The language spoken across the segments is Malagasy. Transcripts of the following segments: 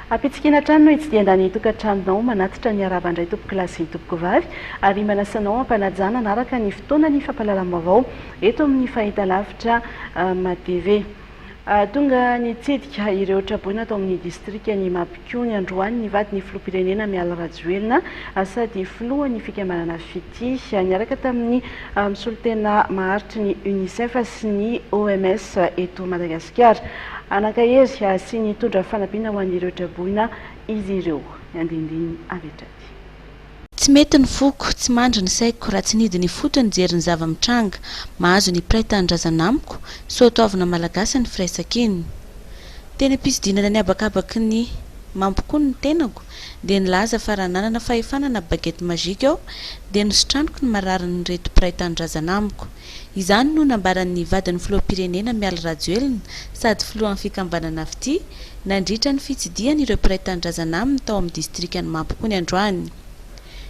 Ampitsikiana hatrany no hitsidian-da ny tokantranonao, manatitra ny harava indray tompokolahy sy tompokovavy, ary manasa anao hampanajana anaraka ny fotoana ny fampahalalam-baovao eto amin'ny fahitalavitra matv. Tonga nitsidika ireo traboina tao amin'ny distrikan'i Mabikony androany ny vadin'ny filoham-pirenena Mialy Rajoelina sady filohan'ny fikambanana Fitia. Niaraka tamin'ny mpisolotena maharitry ny Unicef sy ny OMS eto Madagasikara, hanankahery sy nitondra fanampiana ho an'ireo traboina izy ireo. Ny andinindininy avy hatrany. Tsy mety ny foko, tsy mandry ny saiko raha tsy nidina ifotony nijery ny zava-mitranga. Mahazo ny mpiray tanindrazana amiko, soatoavina malagasy ny firaisankina. Teny am-pisidinana ny habakabaky ny mampikono ny tenako dia nilaza fa raha nanana fahefana na baguette magique aho dia nositraniko ny mararin'ireto mpiray tanindrazana amiko. Izany no nambaran'ny vadin'ny filoham-pirenena Mialy Rajoelina sady filohan'ny fikambanana Fitia nandritra ny fitsidihany ireo mpiray tanindrazana aminy tao amin'ny distrikan'i Mampikony androany.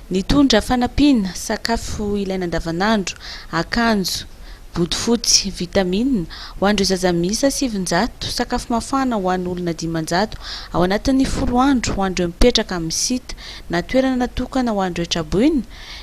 Nitondra fanampiana, sakafo ilaina andavanandro, akanjo, bodofotsy, vitamina, ho an'ireo zaza miisa sivinjato, sakafo mafana ho an'ny olona dimanjato ao anatin'ny folo andro ho an'ireo mipetraka amin'ny site na toerana natokana ho an'ireo traboina,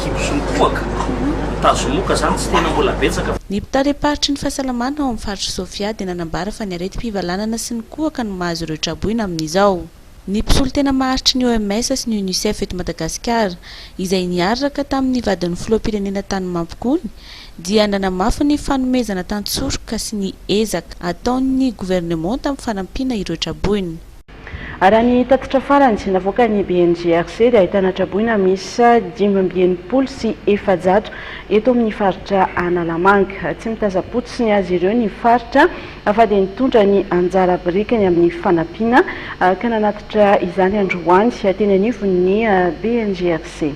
Kibosonkohaka, tazomoka zany tsy tena mbola betsaka fa. Ny mpitariam-paritry ny fahasalamana ao amin'ny faritr'i Sofia dia nanambara fa ny aretim-pivalanana sy ny kohaka no mahazo ireo traboina amin'izao. Ny mpisolotena maharitry ny OMS sy ny Unicef eto Madagasikara, izay niarraka tamin'ny vadin'ny filoham-pirenena tany Mampikony, dia nanamafy ny fanomezana tantsoroka sy ny ezaka ataon'ny governemanta amin'ny fanampiana ireo traboina. Raha ny tatitra farany navoakan'ny BNGRC dia ahitana traboina miisa dimy amby enimpolo sy efajato eto amin'ny faritra Analamanga. Tsy mitazam-potsiny azy ireo ny faritra fa dia nitondra ny anjara birikiny amin'ny fanampiana ka nanatitra izany androany teny anivon'ny BNGRC.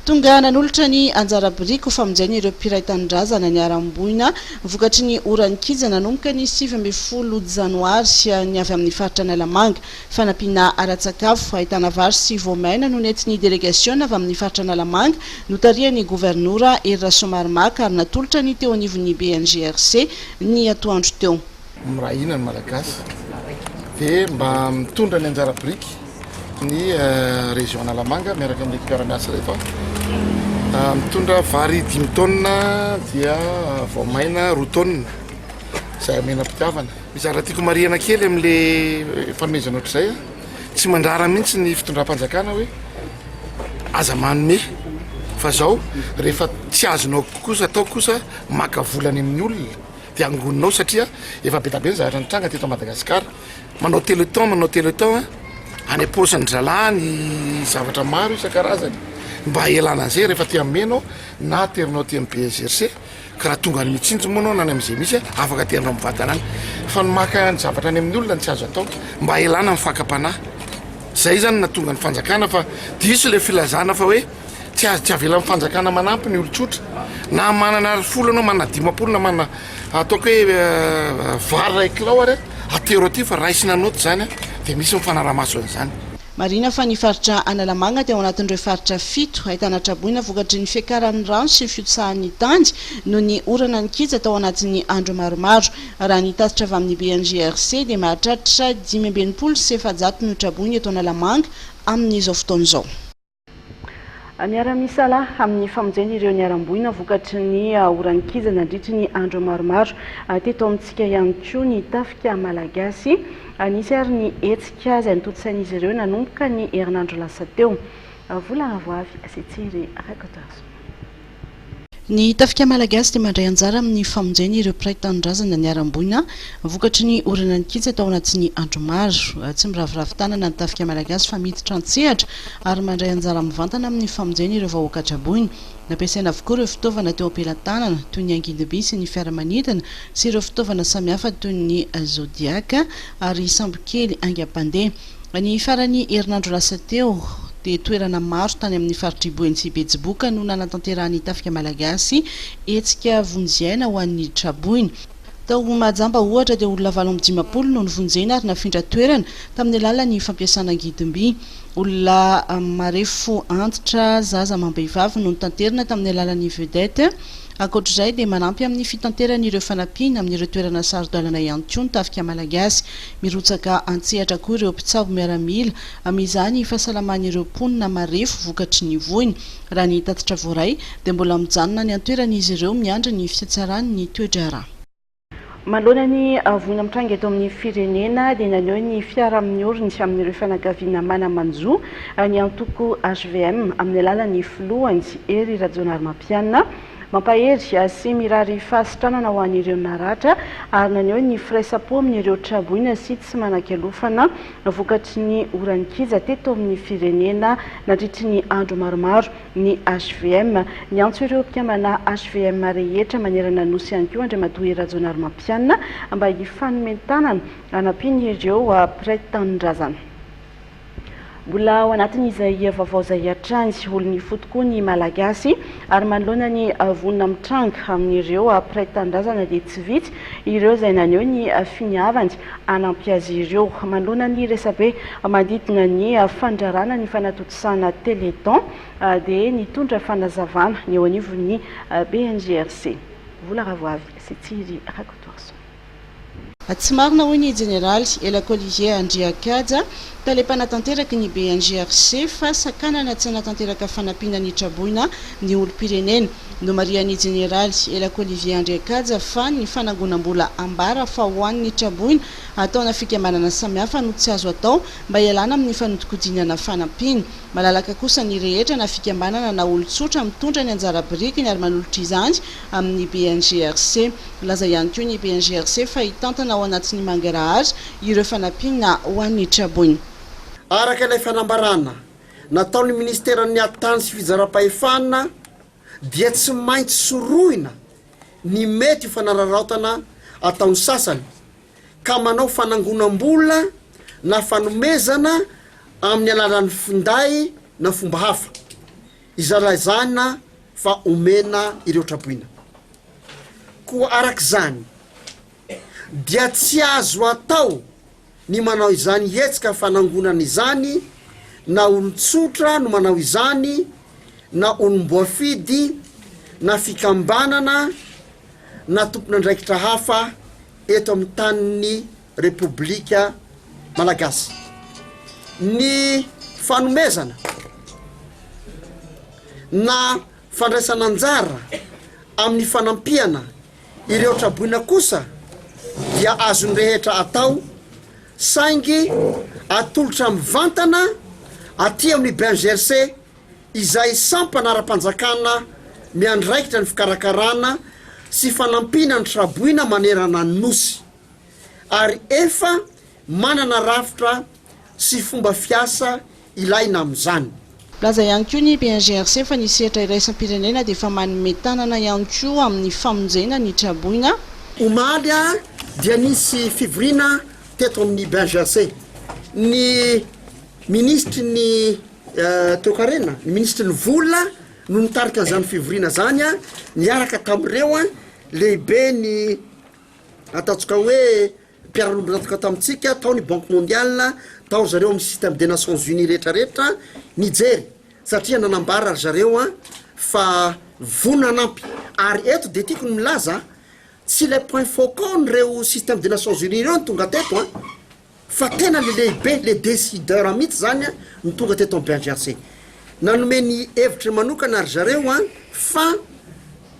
Tonga nanolotra ny anjara biriky ho famonjena ireo mpiray tanindrazana niharam-boina vokatry ny oran'ny kija nanomboka ny sivy ambin'ny folo janoary, ny avy amin'ny faritra Analamanga. Fanampiana ara-tsakafo, ahitana vary sy voamaina no nentin'ny delegasiona avy amin'ny faritra Analamanga notarihan'ny governora Hery Rasoamaromaka ary natolotra ny teo anivon'ny BNGRC ny atoandro teo. Miray hina ny Malagasy dia mba mitondra ny anjara biriky ny région Analamanga miaraka amin'ny mpiara-miasa rehefa mitondra vary dimy taonina dia vao maina roa taonina izay amena mpitiavana. Mizara tiako marihana kely amin'le fanomezana ohatr'izay a. Tsy mandrara mihitsy ny fitondram-panjakana hoe aza manome fa zao rehefa tsy azonao kosa atao kosa maka volany amin'ny olona. Dia angonina ao satria efa be dia be ny zavatra nitranga teto Madagasikara. Manao téléthon, manao téléthon an! Any am-paosin'ny zalahy ny zavatra maro isan-karazany mba hialana an'izay rehefa aty amin'ny Mena ao na aterinao aty amin'ny BSGRC ka raha tonga any Mitsinjo moa ianao na any amin'izay misy an! afaka aterinao mivantana any fa ny maka ny zavatra any amin'ny olona no tsy azo atao mba hialana amin'ny fakam-panahy. Izay izany no nahatonga ny fanjakana fa diso ilay filazana fa hoe. tsy azo tsy avelan'ny fanjakana manampy ny olon-tsotra na manana ary folo anao manana dimapolo na manana ataoko hoe vary ray kilao ary atero aty fa raisina anota zany a dia misy ny fanaramaso an'izany Marihina fa ny faritra Analamanga dia ao anatin'ireo faritra fito ahitana traboina vokatry ny fiakaran'ny rano sy ny fiotsahan'ny tany noho ny orana nikija tao anatin'ny andro maromaro. Raha ny tatitra avy amin'ny BNGRC dia mahatratra dimy amby enimpolo sy efajato no traboina eto Analamanga amin'izao fotoana izao. Miara-misalahy amin'ny famonjena ireo niharam-boina vokatry ny orankija nandritry ny andro maromaro teto amintsika ihany koa ny Tafika Malagasy. Nisy ary ny hetsika izay notontosain'izy ireo nanomboka ny herinandro lasa teo. Vola avo avy sy tsiry Rakotoarison. Ny Tafika Malagasy dia mandray anjara amin'ny famonjena ireo mpiray tanindrazana niharam-boina vokatry ny oronan'ny kija tao anatin'ny andro maro. Tsy miraviravy tanana ny Tafika Malagasy fa miditra an-tsehatra ary mandray anjara mivantana amin'ny famonjena ireo vahoaka traboina. Nampiasaina avokoa ireo fitaovana teo am-pelatanana toy ny angidim-by sy ny fiaramanidina sy ireo fitaovana samihafa toy ny zodiaka ary sambokely haingam-pandeha. Ny faran'ny herinandro lasa teo, dia toerana maro tany amin'ny faritr'i Boeny sy Betsiboka no nanatanterahan'ny Tafika Malagasy hetsika vonjy aina ho an'ny traboina. Tao Mahajamba, ohatra, dia olona valo amby dimampolo no novonjena ary nafindra toerana tamin'ny alalan'ny fampiasana angidim-by. Olona marefo antitra, zaza amam-behivavy no notanterina tamin'ny alalan'ny vedette. Ankoatra izay, dia manampy amin'ny fitanterany ireo fanampiana amin'ireo toerana saro-dalana ihany koa ny Tafika Malagasy. Mirotsaka an-tsehatra koa ireo mpitsabo miaramila amin'izany fahasalaman'ireo mponina marefo vokatry ny voina. Raha ny tatitra voaray dia mbola mijanona any an-toerana izy ireo miandry ny fitsatsaran'ny toe-draharaha. Manoloana ny voina mitranga eto amin'ny firenena dia naneho ny fiaraha-amin'ny oriny amin'ireo fianakaviana mana-manjo ny antoko hvm amin'ny alalan'ny filohany Hery Rajaonarimampianina, Mampahery ahy sy mirary fahasitranana ho an'ireo naratra ary naneho ny firaisam-po amin'ireo traboina sy tsy manan-kialofana vokatry ny orankija teto amin'ny firenena nandritry ny andro maromaro ny HVM. Niantso ireo mpikambana HVM rehetra manerana ny Nosy ihany koa Andriamatoa Rajaonarimampianina mba hifanome tanana hanampiana ireo mpiray tanindrazana. Mbola ao anatin'izay hia vaovao izay hatrany sy olon'ny ifotoko koa ny Malagasy ary manoloana ny vonona mitranga amin'ireo mpiray tanindrazana dia tsy vitsy ireo izay naneho ny finiavany hanampy azy ireo. Manoloana ny resabe manodidina ny fandrarana ny fanatontosana Téléthon dia nitondra fanazavana ny eo anivon'ny BNGRC. Vola Ravoavy sy Tsiry Rakotoarison. Tsy marina hoy ny Jeneraly Elako Olivier Andriakaja, tale mpanatanteraky ny BNGRC fa sakanana tsy hanatanteraka fanampiana ny traboina ny olom-pirenena. Nomarihan'ny Jeneraly Elako Olivier Andriakaja fa ny fanangonam-bola ambara fa ho an'ny traboina ataona fikambanana samihafa no tsy azo atao mba hialana amin'ny fanodinkodinana fanampiana. Malalaka kosa ny rehetra na fikambanana na olon-tsotra mitondra ny anjara birikiny ary manolotra izany amin'ny BNGRC. Nilaza ihany koa ny BNGRC fa hitantana ao anatin'ny mangarahara ireo fanampiana ho an'ny traboina. Araka ilay fanambarana nataon'ny Ministeran'ny Hattany sy Fizaram-pahefana dia tsy maintsy sorohina ny mety ho fanararaotana ataon'ny sasany ka manao fanangonam-bola na fanomezana amin'ny alalan'ny finday na fomba hafa. Izalaizana fa omena ireo traboina. Koa araka izany dia tsy azo atao ny manao izany hetsika fanangonana izany na olon-tsotra no manao izany na olom-boafidy na fikambanana na tompon'andraikitra hafa eto amin'ny tanin'ny Repoblika Malagasy. Ny fanomezana na fandraisana anjara amin'ny fanampiana ireo traboina kosa dia azon'ny rehetra atao saingy atolotra mivantana aty amin'ny BNGRC izay sampana ara-panjakana miandraikitra ny fikarakarana sy fanampiana ny traboina manerana ny Nosy. ary efa manana rafitra sy fomba fiasa ilaina amin'izany. Nilaza ihany koa ny BNGRC fa ny sehatra iraisam-pirenena dia efa manome tanana ihany koa amin'ny famonjena ny traboina. Omaly dia nisy fivoriana teto amin'ny BNGRC. Ny minisitry ny Toekarena, ny minisitry ny Vola no nitarika an'izany fivoriana izany niaraka tamin'ireo lehiben'ny. Ataontsika hoe mpiara-nombon'antoka tamintsika tao ny Banque Mondiale, tao ry zareo amin'ny Système des Nations Unies rehetrarehetra nijery satria nanambara ry zareo fa vonona hanampy. Ary eto dia tiako ny milaza, tsy ilay point focaux-n'ireo Système des Nations Unies ireo no tonga teto an! Fa tena le lehibe, le decideur mitsy zany an no tonga teto am BHRC. Nanome ny hevitry ny manokana ry zareo an fa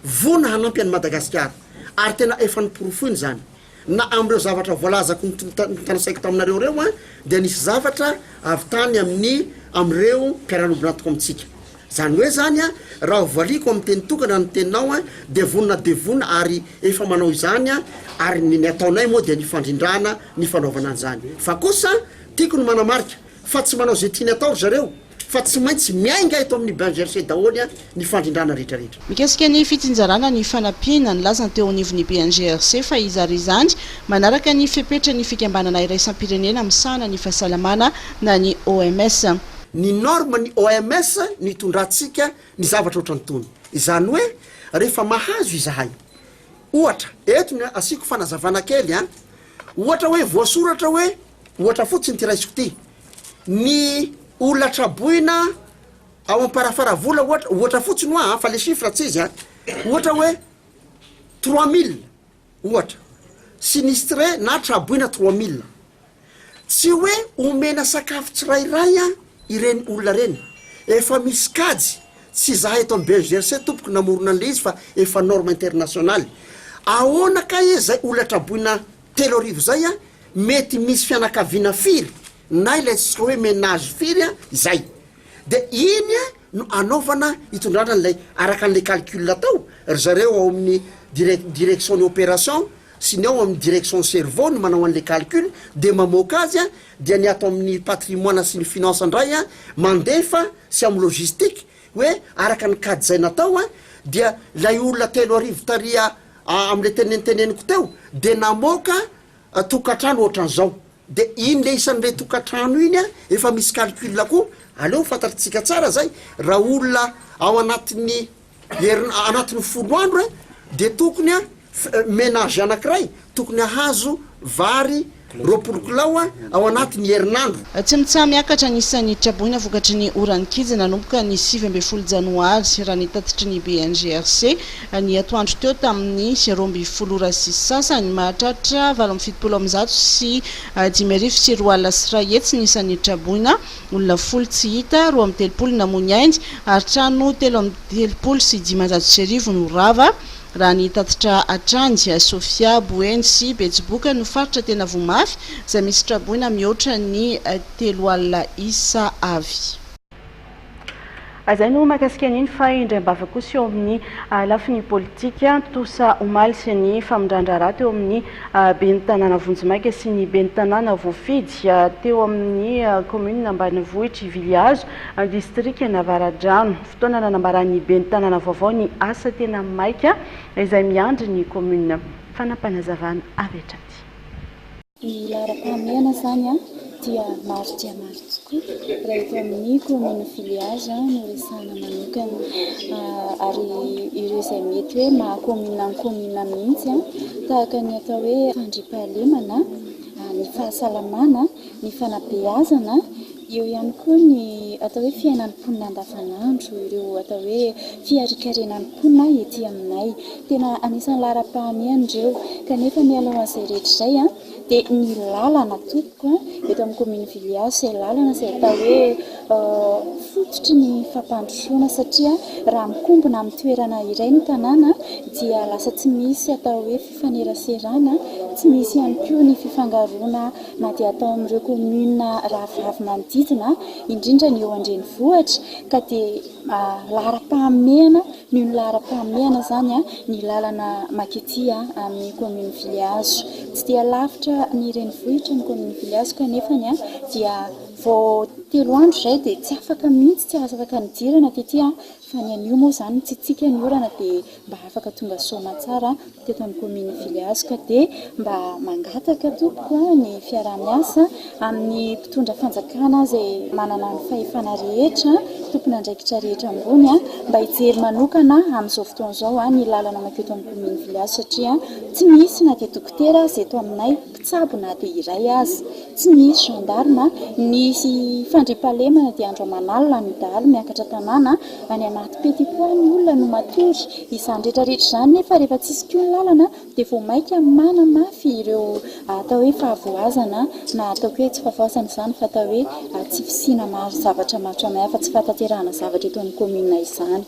vonona hanampy an'i Madagasikara. Ary tena efa noporofoiny zany. Na am'ireo zavatra voalazako notanisaiko taminareo reo an dia nisy zavatra avy tany amin'ny am'ireo mpiara-niombon'antoko amintsika. Zany hoe zany an, raha hovaliako amin'ny teny tokana ny teninao an, dia vonona dia vonona ary efa manao izany an, ary ny ataonay moa dia ny fandrindrana ny fanaovana an'izany. Fa kosa, tiako ny manamarika, fa tsy manao izay tiany atao ry zareo, fa tsy maintsy miainga eto amin'ny bain versé daholo an, ny fandrindrana rehetrarehetra. Mikasika ny fitsinjarana ny fanampiana, nilaza ny teo anivon'ny bain GRC fa izy ary izany manaraka ny fepetran'ny fikambanana iraisam-pirenena misahana ny fahasalamana na ny OMS. Ny norme ny OMS no itondrantsika ny zavatra ohatran'itony. Izany hoe rehefa mahazo izahay, ohatra, eto ny asiako fanazavana kely an, ohatra hoe voasoratra hoe, ohatra fotsiny ity raisiko ity, ny olona traboina ao Amparafaravola ohatra, ohatra fotsiny hoa an, fa le chiffre tsy izy an, ohatra hoe trois mille, ohatra, sinistre na traboina trois mille, tsy hoe omena sakafo tsirairay an ireny olona ireny, efa misy kajy, tsy za eto am BEGRC tompoko namorona anle izy fa efa norme internationaly, ahoana kay e zay olona traboina telo arivo zay an, mety misy fianakaviana firy na ilay antsika hoe menage firy an izay, De iny no anaovana hitondrana an'ilay araka an'ilay calcul atao, ry zareo ao amin'ny direc- direction ny opération sy ny ao amin'ny direction ny cerveau no manao an'ilay calcul de mamoaka azy an, dia ny ato amin'ny patrimoine sy ny finance indray an mandefa sy amin'ny logistique hoe araka ny kajy izay natao an, dia ilay olona telo arivo tariha a- amin'ilay teneniteneniko teo dia namoaka tokantrano ohatran'izao de iny le isan'le tokantrano iny efa misy calcul koa aleo fantatritsika tsara zay raha olona ao anatin'ny herin- anatin'ny folo andro e de tokony a menage anakiray tokony ahazo vary roapolo kilao a ao anatin'ny herinandro. Tsimontsaha miakatra ny isan'ny traboina vokatry ny oran'ny kija nanomboka ny sivy ambin'ny folo janoary, raha ny tatitry ny BNGRC. Ny atoandro teo tamin'ny roa ambin'ny folo ora sy sasany, mahatratra valo amby fitopolo amby zato sy dimy arivo sy roa alina sy iray hetsy ny isan'ny traboina, olona folo tsy hita, roa amby telopolo namoy ny ainy ary trano telo amby telopolo sy dimanjato sy arivo no rava, raha ny tatitra hatrany. Sofia, Boeny sy Betsiboka no faritra tena voa mafy, izay misy traboina mihoatra ny telo alina isa avy. Izay no mahakasika an'iny fa indray am-bava kosa eo amin'ny lafiny politika, tontosa omaly ny famindran-draharaha teo amin'ny ben'ny tanàna vonjimaika sy ny ben'ny tanàna voafidy teo amin'ny kaominina ambanivohitr' i Vilihazo, distrikan'Avaradrano. Fotoana nanambaran'ny ben'ny tanàna vaovao ny asa tena maika izay miandry ny kaominina. Fanapanazavana avy hatrany. Ny laharam-pahamehana izany dia maro dia maro tokoa raha eto amin'ny kaominina Filihazo no resahana manokana ary ireo izay mety hoe maha kaominina ny kaominina mihitsy tahaka ny atao hoe fandriampahalemana, ny fahasalamana, ny fanabeazana, eo ihany koa ny atao hoe fiainan'ny mponina andavanandro, ireo atao hoe fiharikarenan'ny mponina ety aminay. Tena anisan'ny laharam-pahamehana ireo. Kanefa mialoha an'izay rehetra izay dia ny lalana tompoko eto amin'ny kaomin'i Vilihazo izay lalana izay atao hoe fototry ny fampandrosoana satria raha mikombona amin'ny toerana iray ny tanàna dia lasa tsy misy atao hoe fifaneraserana, tsy misy ihany koa ny fifangaroana na dia atao amin'ireo kaominina rahavavy manodidina indrindra ny eo an-drenivohitra ka dia laharam-pahamehana. Ny ny laharam-pahamehana izany ny lalana makety amin'ny kaominina Filihazo. Tsy dia lavitra ny renivohitra ny kaominina Filihazo kanefa dia vao telo andro izay dia tsy afaka mihitsy, tsy afaka nidirana tety fa ny anio moa izany mitsitsiaka ny orana dia mba afaka tonga soa aman-tsara. teto amin'ny kaominin'i Filihazoka dia mba mangataka tompoko ny fiaraha-miasa amin'ny mpitondra fanjakana izay manana ny fahefana rehetra, tompon'andraikitra rehetra ambony mba hijery manokana amin'izao fotoana izao ny lalana mankeo eto amin'ny kaominin'i Filihazo satria tsy misy na dia dokotera aza eto aminay. Tsabo na dia iray aza. Tsy nisy gendarme. Nisy fandriampahalemana dia andro aman'alina no dahalo miakatra tanàna. Any anaty petit pois ny olona no matory. Izany rehetrarehetra izany nefa rehefa tsy hisy koa ny lalana dia vao mainka manamafy ireo atao hoe fahavoazana na ataoko hoe tsy fahavoazana izany fa atao hoe tsy fisiana mari zavatra maro samihafa, tsy fahataterahana zavatra eto amin'ny commune izany.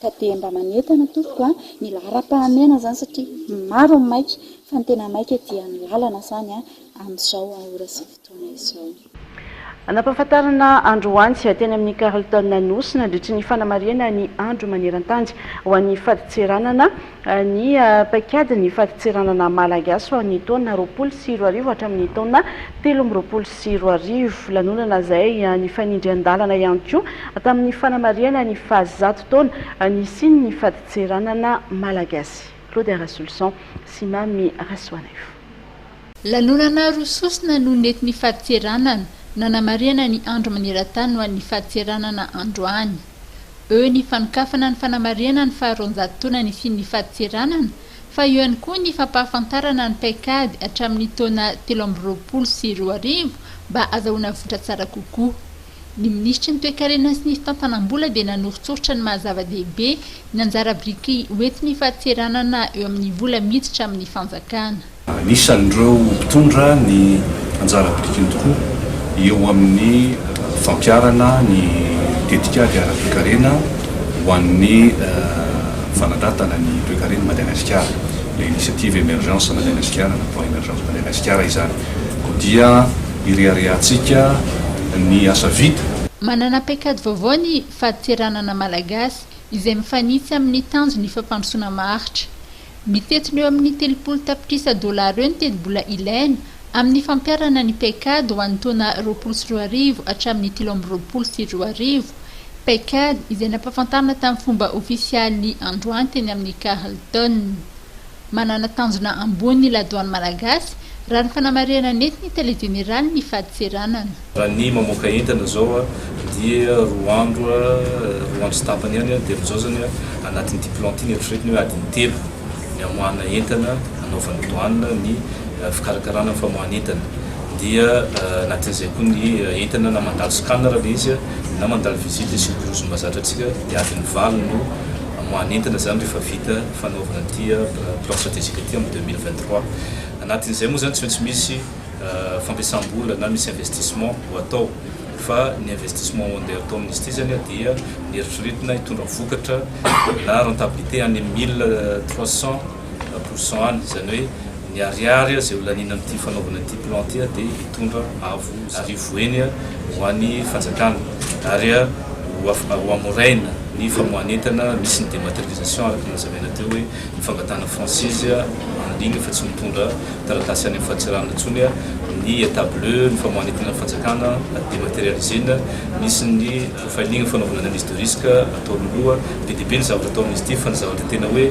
ka dia mba manentana tompoko a, ny laharam-pahamehana izany satria maro ny maika fa ny tena maika dia ny lalana izany amin'izao ora sy fotoana izao. Anampahafantarana androany teny amin'ny Carlton Anosy nandritry ny fanamarihana ny andro maneran-tany ho an'ny fadintseranana ny paikady ny fadintseranana Malagasy ho an'ny taona roapolo sy roa arivo hatramin'ny taona telo amby roapolo sy roa arivo. Lanonana izay nifanindry an-dalana ihany koa tamin'ny fanamarihana ny fahazato taona nisian'ny fadintseranana Malagasy. Claude Rasoloson sy Mamy Rasoanaivo. Lanonana roa sosona no nety nifadintseranana nanamarihana ny Andro maneran-tany ho an'ny fadintseranana androany. Eo ny fanokafana ny fanamarihana ny faharoanjato taona nisian'ny fadintseranana, fa eo ihany koa ny fampahafantarana ny paikady hatramin'ny taona telo amby roapolo sy roa arivo mba azahoana vokatra tsara kokoa. Ny minisitry ny Toekarena sy ny fitantanam-bola dia nanoritsoritra ny maha-zava-dehibe ny anjara biriky hoentin'ny fadintseranana eo amin'ny vola miditra amin'ny fanjakana. Anisan'ireo mpitondra ny anjara birikiny tokoa eo amin'ny fampiharana ny tetikady ara-toekarena ho an'ny fanandratana ny toekaren'i Madagasikara, ilay Initiative Emergence Madagasikara na Plan Emergence Madagasikara izany, koa dia ireharehantsika ny asa vita. Manana paikady vaovao ny Fadintseranana Malagasy izay mifanitsy amin'ny tanjon'ny fampandrosoana maharitra. Ny fetsiny eo amin'ny telopolo tapitrisa dolara eo ny tetibola ilaina amin'ny fampiharana ny PECAD ho an'ny taona roapolo sy roa arivo hatramin'ny telo amby roapolo sy roa arivo, PECAD izay nampahafantarina tamin'ny fomba ofisialy androany teny amin'ny Carlton. Manana tanjona ambony ny ladoany malagasy, raha ny fanamarihana nentin'ny Tale jeneralin'ny fadintseranana. Raha ny mamoaka entana izao dia roa andro, roa andro sy tapany ihany dia amin'izao izany anatin'ity plan ity ny eritreretiny hoe adiny telo ny hamoahana entana hanaovan'ny douane ny fikarakarana ny famoahana entana. Dia anatin'izay koa ny entana na mandalo scanner ilay izy na mandalo visite sy mikorozomba zatra antsika dia adiny valo no hamoahana entana izany rehefa vita fanaovana ity plan stratégique ity amin'ny deux mille vingt trois. Anatin'izay moa izany tsy maintsy misy fampiasam-bola na misy investissement ho atao fa ny investissement andeha atao amin'izy zany dia ny eritreretina hitondra vokatra na rentabilité any amin'ny mille trois cents pour cent any izany hoe ny ariary izay ho laniana amin'ity fanaovana ity plan ity dia hitondra avo arivo eny ho an'ny fanjakana ary ho amoraina ny famoahan'entana misy ny dématérialisation araka ny nazavaina teo hoe Ny fangatahana franchise en ligne fa tsy mitondra taratasy any amin'ny fahatsarana intsony ny Etat bleu, ny famoahana entinan'ny fanjakana dematerialiser-na, misy ny profiling fanaovana analyse de risque atao roa roa, be dia be ny zavatra ataon'izy ity fa ny zavatra tena hoe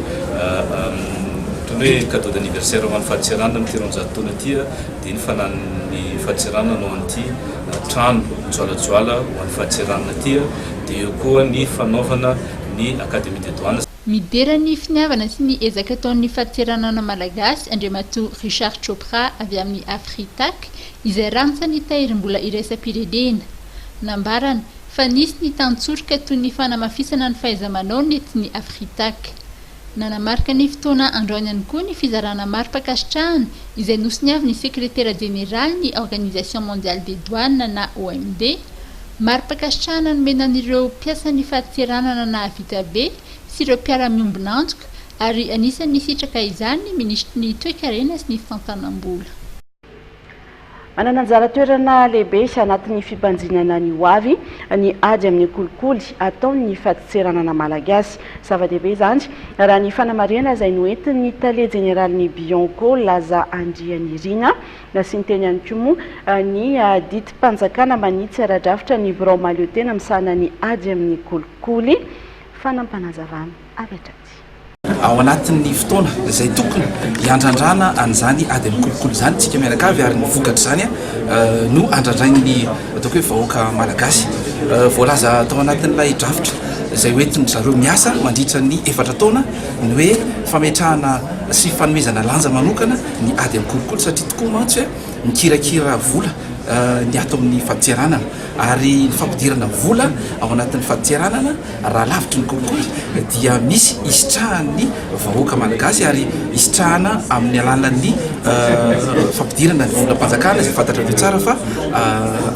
toy ny hoe cadeau d'anniversaire ho an'ny fahatserana amin'ity roanjato taona ity dia ny fananan'ny fahatserana hanao an'ity trano mijoalajoala ho an'ny fahatserana ity dia eo koa ny fanaovana ny academie des douanes. Midera ny finiavana sy ny ezaka ataon'ny Faritseranana Malagasy, Andriamatoa Richard Chopra avy amin'ny Afritac, izay rantsany tahirim-bola iraisam-pirenena. Nambarany, fa nisy ny tantsoroka toy ny fanamafisana ny fahaiza-manao nentin'ny Afritac. Nanamarika ny fotoana androany ihany koa ny fizarana mari-pankasitrahana izay nosoniavin'ny Sekretera Jeneralin'ny Organisation Mondiale des Douanes na OMD, Mari-pankasitrahana nomena an'ireo mpiasan'ny fahatseranana nahavita be sy ireo mpiara-miombon'antoka ary anisan'ny nisitraka izany ny Minisitry ny Toekarena sy ny Fitantanam-bola. Manana anjara toerana lehibe sy anatin'ny fimpanjinana ny hoavy ny ady amin'ny kolikoly ataon'ny fahatseranana malagasy. Zava-dehibe izany, raha ny fanamarihana izay noentin'ny Tale jeneralin'ny Bianco, Laza Andrianirina, Nasiany teny ihany koa moa ny didim-panjakana manitsy ara-drafitra ny birao mahaleotena misahana ny ady amin'ny kolikoly. Fanam-panazavana avy hatraty. Ao anatin'ny fotoana izay tokony hiandrandrana an'izany ady amin'ny kolikoly izany isika mianakavy ary ny vokatr'izany no andrandrain'ny ataoko hoe vahoaka malagasy. Voalaza tao anatin'ilay drafitra izay hoentin-dry zareo miasa mandritra ny efatra taona ny hoe fametrahana sy fanomezana lanja manokana ny ady an-kolikoly satria tokoa mantsy mikirakira vola ny ato amin'ny fadintseranana ary ny fampidirana vola ao anatin'ny fadintseranana raha lavitry ny kolikoly dia misy hisitrahan'ny vahoaka malagasy ary hisitrahana amin'ny alalan'ny fampidirana ny volam-panjakana izay fantatrareo tsara fa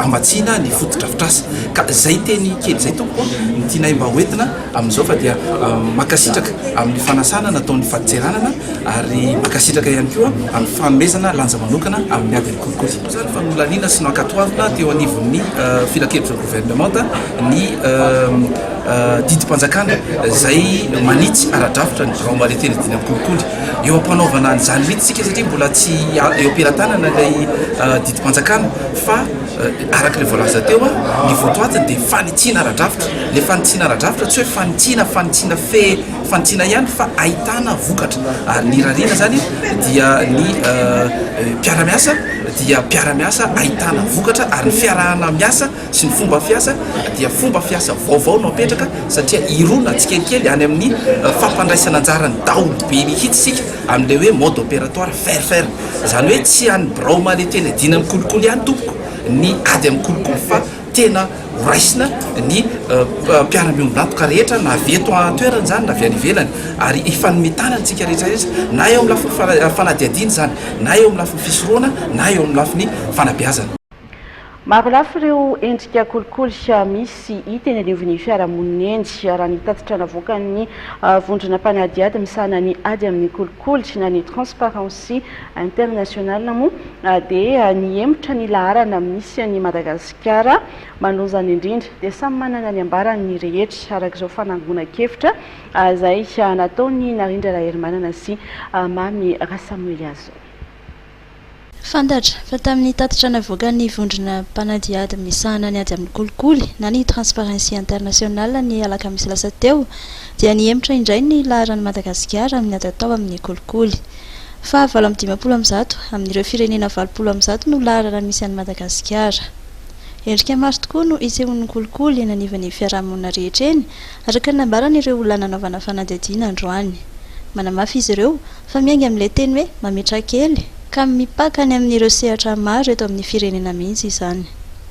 hamatsiana ny fotodrafitrasa ka izay teny kely izay tompoko ny tianay mba hoentina amin'izao fa dia mankasitraka amin'ny fanasana nataon'ny fadintseranana ary mankasitraka ihany koa amin'ny fanomezana lanja manokana amin'ny ady amin'ny kolikoly. Izany fa nolaniana sy nankatoavina teo anivon'ny Filankevitr'ireo Governemanta ny didim-panjakana izay manitsy ara-drafitra ny birao Mahaleo telo dimy amin'ny kolikoly. Eo am-panaovana an'izany mihitsy isika satria mbola tsy eo am-pelatanana ilay didim-panjakana fa. Araka ilay voalaza teo, ny votoatiny dia fanitsiana ara-drafitra. Ilay fanitsiana ara-drafitra tsy hoe fanitsiana fanitsiana fe fanitsiana ihany fa ahitana vokatra. Ary ny irariana izany dia ny mpiara-miasa dia mpiara-miasa ahitana vokatra ary ny fiarahana miasa sy ny fomba fiasa dia fomba fiasa vaovao no apetraka satria hirona tsikelikely any amin'ny fampandraisana anjaran'ny daholobe mihitsy isika amin'ilay hoe mode opératoire faire faire. Izany hoe tsy any birao malety eny Adina amin'ny kolikoly ihany tompoko ny ady amin'ny kolikoly fa tena horaisina ny mpiara-miombon'antoka rehetra na avy eto an-toerana izany na avy any ivelany ary hifanome tanana isika rehetra rehetra na eo amin'ny lafiny fanadihadiana izany na eo amin'ny lafiny fisorohana na eo amin'ny lafiny fanabeazana. Marolafy ireo endrika kolikoly misy hita eny anivon'ny fiarahamonina eny. Raha ny tatitra navoakan'ny vondrona mpanadihady misahana ny ady amin'ny kolikoly na ny Transparency International moa dia nihemotra ny laharana misy an'i Madagasikara. Manozana indrindra dia samy manana ny ambarany ny rehetra, araka izao fanangonan-kevitra izay nataon'i Narindra Raherimanana sy Mamy Rasamoeliazon. Fantatra, fa tamin'ny tatitra navoakan'ny vondrona mpanadihady misahana ny ady amin'ny kolikoly na ny Transparency International ny alakamisy lasa teo, dia nihemotra indray ny laharan'i Madagasikara amin'ny ady atao amin'ny kolikoly. Fahavalo amby dimampolo amin'ny zato amin'ireo firenena valopolo amin'ny zato no laharana misy an'i Madagasikara. Endrika maro tokoa no isehoan'ny kolikoly eny anivon'ny fiarahamonina rehetra eny, araka ny nambaran'ireo olona nanaovana fanadihadiana androany. Manamafy izy ireo, Fa miainga amin'ilay teny hoe mametraha kely, ka mipaka any amin'ireo sehatra maro eto amin'ny firenena mihitsy izany.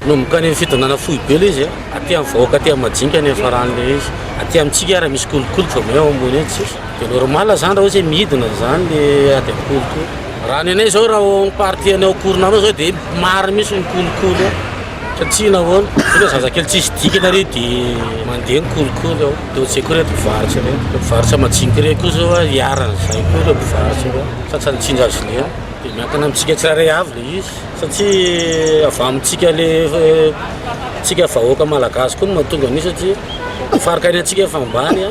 Manomboka any amin'ny fidonana foibe ilay izy, aty amin'ny vahoaka aty amin'ny majinika any ifarany ilay izy. Aty amintsika ary misy kolikoly fa vao eo ambony eo tsisy. Dia normal izany raha ohatra hoe midina izany ilay ady amin'ny kolikoly. Raha ny anay izao raha ao amin'ny partie anay ao Koronanao izao dia maro mihitsy ny kolikoly ao. Ka tsia na ahoana, zay le zazakely tsisy dikany ary de mandeha ny kolikoly ao, de ohatr'izay koa ireto mpivarotra ireto, le mpivarotra majiniky ireto koa zao a, iharany zay koa ireo mpivarotra ireo, tratran'ny tsinjazo lena, de miankina amintsika tsirairay avy le izy, satria avy amintsika le tsika vahoaka malagasy koa no mahatonga an'io satria faritanintsika efa ambany a.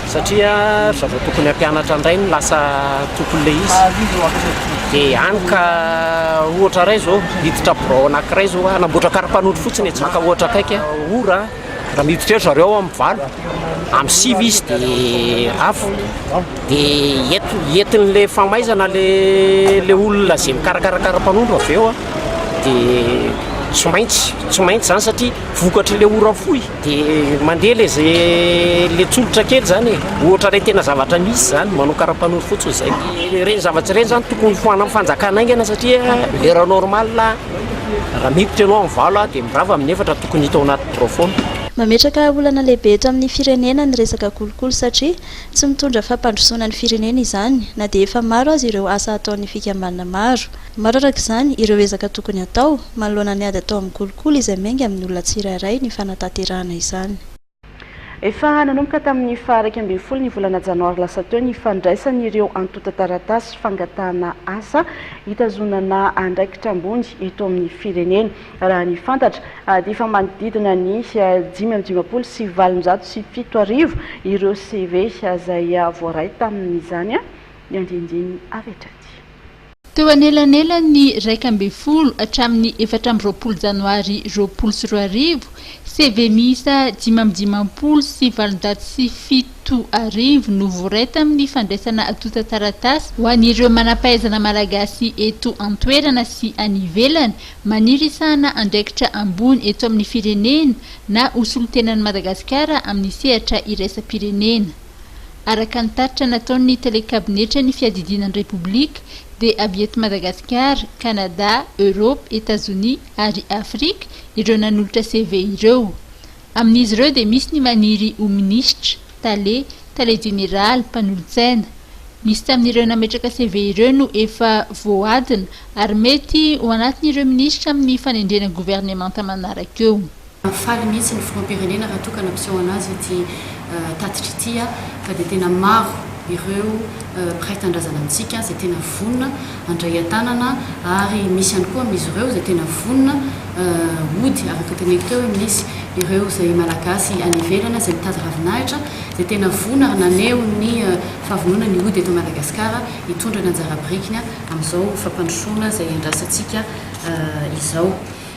satria ry zareo tokony hampianatra indray no lasa tompon'ilay izy dia any ka ohatra iray izao hiditra birao anankiray izao hoe hanamboatra karapanondro fotsiny etsy Bacca ohatra akaiky a, ora a, raha miditra eo ry zareo amin'ny valo, amin'ny sivy izy dia avo, dia enti- entin'ilay famaizana ilay ilay olona izay mikarakara karapanondro avy eo a, dia tsy maintsy, tsy maintsy izany satria vokatr'ilay ora fohy. Dia mandeha le ze le tsolotra kely zany e, ohatra le tena zavatra misy zany, manao karapanondro fotsiny zay. Ireny zavatra ireny zany tokony ho anan'ny fanjakana aingana satria heure normale raha miditra ianao amin'ny valo dia mirava amin'ny efatra tokony hita ao anaty birao foana. Mametraka olana lehibe eto amin'ny firenena ny resaka kolikoly satria tsy mitondra fampandrosoana ny firenena izany na dia efa maro aza ireo asa ataon'ny fikambanana maro. Maro araka izany ireo ezaka tokony hatao, manoloana ny ady atao amin'ny kolikoly izay miainga amin'ny olona tsirairay ny fanatanterahana izany. Efa nanomboka tamin'ny faha iraika ambin'ny folo ny volana janoary lasa teo ny fandraisan'ireo antontan-taratasy fangatahana asa hitazonana andraikitra ambony eto amin'ny firenena. Raha ny fantatra dia efa manodidina ny dimy amby dimampolo sy valonjato sy fito arivo ireo CV izay voaray tamin'izany ny andiandiany avy hatrany. Teo anelanelan'ny iraika ambin'ny folo hatramin'ny efatra amby roapolo janoary roapolo sy roa arivo, CV miisa dimy amby dimampolo sy valonjato sy fito arivo no voaray tamin'ny fandraisana antontan-taratasy ho an'ireo manam-pahaizana malagasy eto an-toerana sy any ivelany maniry hisahana andraikitra ambony eto amin'ny firenena na ho solontenan'i Madagasikara amin'ny sehatra iraisam-pirenena. Araka ny tatitra nataon'ny tele-kabinetra ny fiadidiana ny Repoblika dia avy eto Madagasikara, Kanada, Eoropa, Etazonia ary Afrika ireo nanolotra CV ireo. Amin'izy ireo dia misy ny maniry ho minisitra, tale, tale jeneraly, mpanolotsaina. Misy tamin'ireo nametraka CV ireo no efa voadina ary mety ho anatin'ireo minisitra amin'ny fanendrena governemanta manaraka eo. Faly mihitsy ny filoham-pirenena raha toa ka nampiseho an'azy ity tatitra ity fa dia tena maro ireo mpiray tanindrazana amintsika izay tena vonona handray an-tanana ary misy ihany koa amin'izy ireo izay tena vonona hody araka ny teneniko teo hoe misy ireo izay malagasy any ivelany izay mitady ravinahitra izay tena vonona ary naneho ny fahavononany hody eto Madagasikara hitondra ny anjara birikiny amin'izao fampandrosoana izay iandrasantsika izao.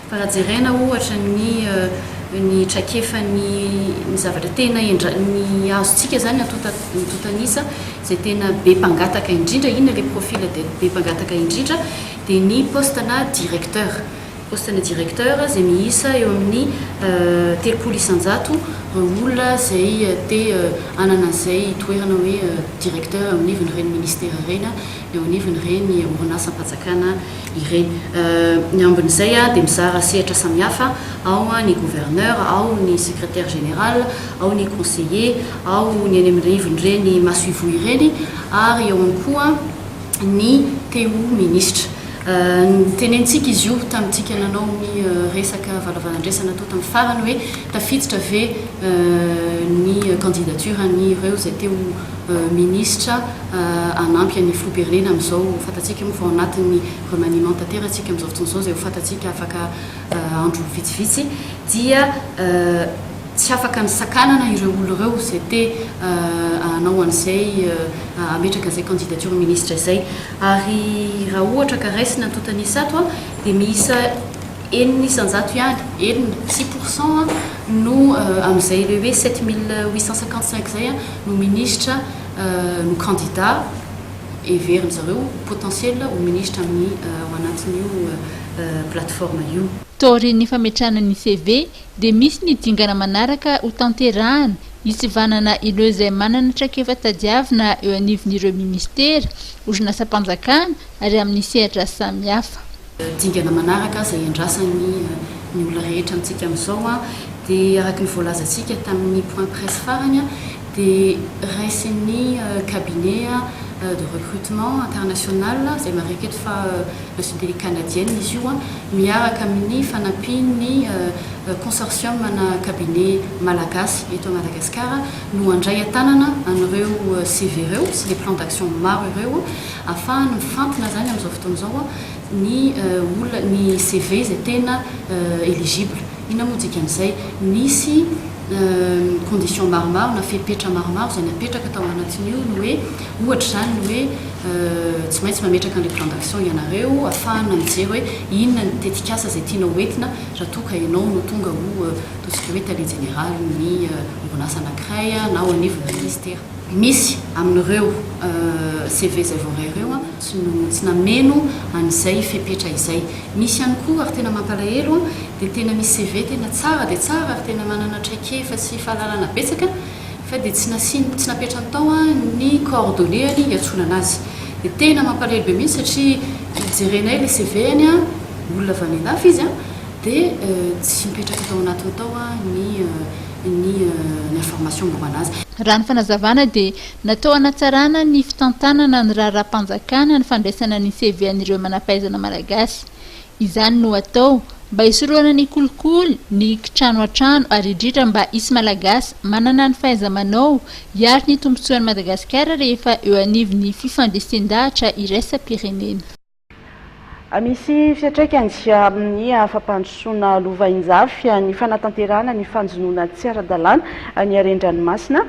Fa raha jerena ohatra ny ny traikefan'ny ny zavatra tena endra ny azontsika izany antonta antontan'isa izay tena be mpangataka indrindra, inona ilay profil be be mpangataka indrindra? dia ny poste-na directeur. Poste-na directeur izay miisa eo amin'ny telopolo isan-jato olona izay te hanana an'izay toerana hoe directeur eo anivon'ireny ministera ireny na eo anivon'ireny orinasam-panjakana ireny. Ny ambin'izay dia mizara sehatra samihafa, ao ny gouverneur, ao ny secretaire général, ao ny conseiller, ao ny eny amin'ny rivon'ireny masoivoho ireny ary eo ihany koa ny te ho minisitra. Notenenintsika izy io tamintsika nanao ny resaka valavalan-draisana tao tamin'ny farany hoe tafiditra ve ny candidature-n'ireo izay te ho minisitra, hanampy an'ny filoham-pirenena amin'izao fantatsika moa fa ao anatin'ny remaniement tanteratsika amin'izao fotoana izao izay ho fantatsika afaka andro vitsivitsy dia tsy afaka ny sakanana ireo olona ireo izay te hanao an'izay hametraka an'izay candidature ministre izay ary raha ohatra ka raisina ny tontan'isa ato a dia miisa enina isan-jato ihany, enina, six pour cent a, no amin'izay ilay hoe sept mille huit cent cinquante-cinq izay a no ministra no kandida heverin'ny zareo ho potentiel ho ministra amin'ny ao anatin'io plateforme io. Taorian'ny fametrahana ny CV dia misy ny dingana manaraka ho tanterahana hitsivanana ireo izay manana traikefa tadiavina eo anivon'ireo ministera, orinasam-panjakana ary amin'ny sehatra samihafa. dingana manaraka izay iandrasany ny olona rehetra amintsika amin'izao dia araka ny voalazantsika tamin'ny point presse farany dia raisin'ny cabinet de recrutement international izay marika eto fa nationalité canadienne izy io miaraka amin'ny fanampian'ny consortium ana cabinet malagasy eto Madagascar no handray an-tanana an'ireo CV ireo sy les plans d'action maro ireo afahany mifantina izany amin'izao fotoana izao ny olona ny CV izay tena eligible, inona moa dikan'izay? nisy condition maromaro na fepetra maromaro izay napetraka tao anatin'io ny hoe ohatra izany ny hoe tsy maintsy mametraka an'ilay plan d'action ianareo hafahana mijery hoe inona ny tetikasa izay tianao ho entina raha toa ka ianao no tonga ho ataontsika hoe tale jeneraly ny orinasa anankiray na ao anivon'ny ministera. Misy amin'ireo CV izay voaray ireo an. Tsy no tsy nameno an'izay fepetra izay. Misy ihany koa ary tena mampalahelo dia tena misy CV tena tsara dia tsara ary tena manana traikefa sy fahalalana betsaka fa dia tsy nasiany tsy napetrany tao ny coordonneany hiantsonana azy. Dia tena mampalahelo be mihitsy satria jerenay ilay CV-any a, olona avy any andafy izy a, dia tsy mipetraka tao anatiny tao ny ny information momba anazy. Raha ny fanazavana dia. Natao hanatsarana ny fitantanana ny raharaham-panjakana ny fandraisana ny CV an'ireo manampahaizana malagasy. Izany no atao mba hisorohana ny kolikoly, ny kitrano an-trano ary indrindra mba hisy malagasy manana ny fahaiza-manao hiaro ny tombontsoan'i Madagasikara rehefa eo anivon'ny fifandresen-dahatra iraisam-pirenena. Misy fiantraikany amin'ny fampandrosoana lovainjafy ny fanatanterahana ny fanjonoana tsy ara-dalàna ny haren-dranomasina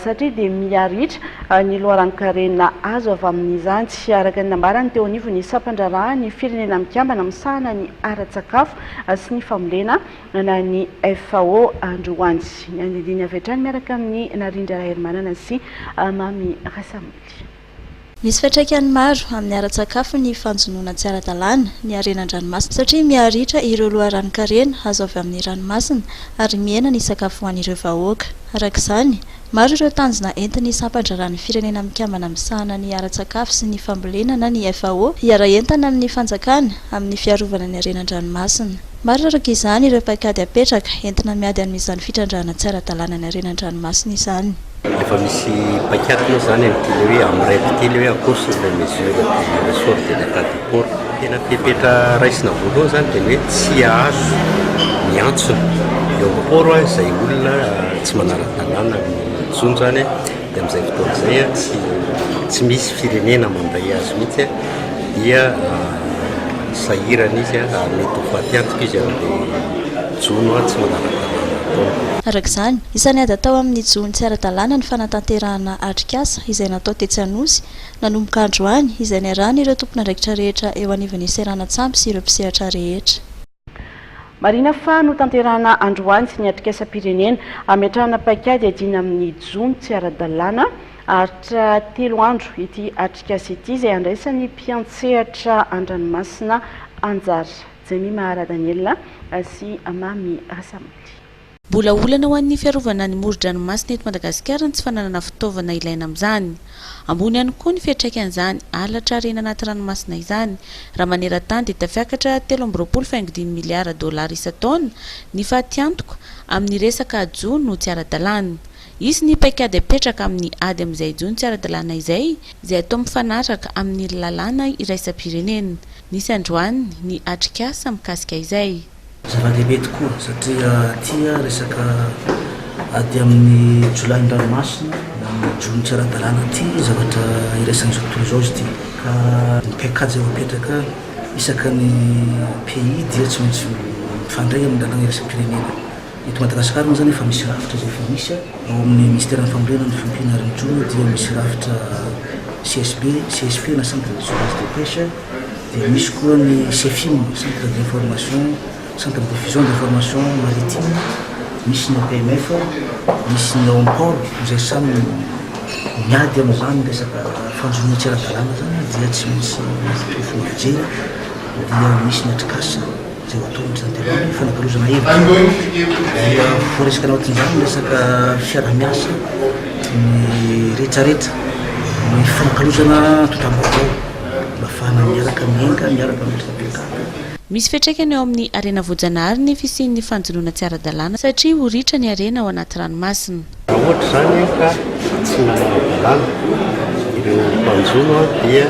satria dia miha-ritra ny loharanon-karena azo avy amin'izany, araka ny nambarany teo anivon'ny Sampandraharahan'ny Firenena Mikambana misahana ny ara-tsakafo sy ny fambolena, ny FAO, androany. Ny andinindiny avy hatrany miaraka amin'i Narindra Raharimanana sy Mamy Rasamily. Misy fiantraikany maro amin'ny ara-tsakafo ny fanjonoana tsy ara-dalàna ny harena an-dranomasina satria miha-ritra ireo loharanon-karena azo avy amin'ny ranomasina ary mihena ny sakafo ho an'ireo vahoaka. Araka izany, maro ireo tanjona entin'ny Sampan-draharahan'ny Firenena Mikambana Misahana ny Ara-tsakafo sy ny Fambolena na ny FAO hiara-hientana amin'ny fanjakana amin'ny fiarovana ny harena an-dranomasina. Maro araka izany ireo paikady apetraka entina miady amin'izany fitrandrahana tsy ara-dalàna ny harena an-dranomasina izany. Efa misy paik'ady moa izany amin'ity le hoe amin'ny rep ity le hoe akory sur les mesures du ressort de l'Etat du port. Tena fepetra raisina voalohany izany dia ny hoe tsy azo miantsona eo amin'ny port izay olona tsy manara-dalàna amin'ny jono izany dia amin'izay fotoana izay tsy tsy misy firenena mandray azy mihitsy dia sahirana izy ary mety ho faty antoka izy amin'ilay jono tsy manara-dalàna ataony. Araka izany, Isan'ny ady atao amin'ny jono tsy ara-dalàna ny fanatanterahana atrikasa izay natao tetsy Anosy, nanomboka androany, izay niarahan'ireo tompon'andraikitra rehetra eo anivon'ny seranan-tsambo sy ireo mpisehatra rehetra. Marihina fa notanterahina androany ny atrikasam-pirenena hametrahana paikady hiadiana amin'ny jono tsy ara-dalàna. Haharitra telo andro ity atrikasa ity izay handraisan'ny mpiantsehatra an-dranomasina anjara. Jemima Radaniel sy Mamy Rasamily. Mbola olana ho an'ny fiarovana ny moron-dranomasina eto Madagasikara ny tsy fananana fitaovana ilaina amin'izany. Ambony ihany koa ny fiantraikan'izany halatra harena anaty ranomasina izany, raha maneran-tany dia tafiakatra telo amby roapolo faingo dimy miliara dolara isan-taona ny fatiantoka amin'ny resaka jono tsy ara-dalàna. Hisy ny paikady hapetraka amin'ny ady amin'izay jono tsy ara-dalàna izay, izay atao mifanaraka amin'ny lalàna iraisam-pirenena. Nisy androany ny atrikasa mikasika izay. Zava-dehibe tokoa satria aty resaka ady amin'ny jiolahin'ny ranomasina na amin'ny jono tsy ara-dalàna ity zavatra iraisan'izao tontolo izao izy ity ka ny paikady izay voapetraka isaka ny pays dia tsy maintsy mifandray amin'ny lalàna iraisam-pirenena. Eto Madagasikara moa izany efa misy rafitra izay efa misy ao amin'ny minisiteran'ny fambolena ny fiompiana ary ny jono dia misy rafitra CSB, CSP na Centre de surveillance des pêches. Dia misy koa ny Cefim, Centre d'information, Centre de diffusion d'information maritime, misy ny APMF, misy ny Ompol, izay samy miady amin'izany resaka fanjonoana tsy ara-dalàna izany dia tsy misy tolofo mijery dia misy ny Atricas izay ho atao amin'izany dia ny fanakalozana hevitra dia voaresaka anatin'izany ny resaka fiaraha-miasa ny rehetrarehetra ny fanakalozana antontam-baovao. Mafana miaraka mienga miaraka amin'ny fitsaboan-kanina. Misy fiantraikany eo amin'ny harena voajanahary ny fisian'ny fanjonoana tsy ara-dalàna satria ho ritra ny harena ao anaty ranomasina. Raha ohatra izany ka tsy manam-dalàna ireo mpanjono dia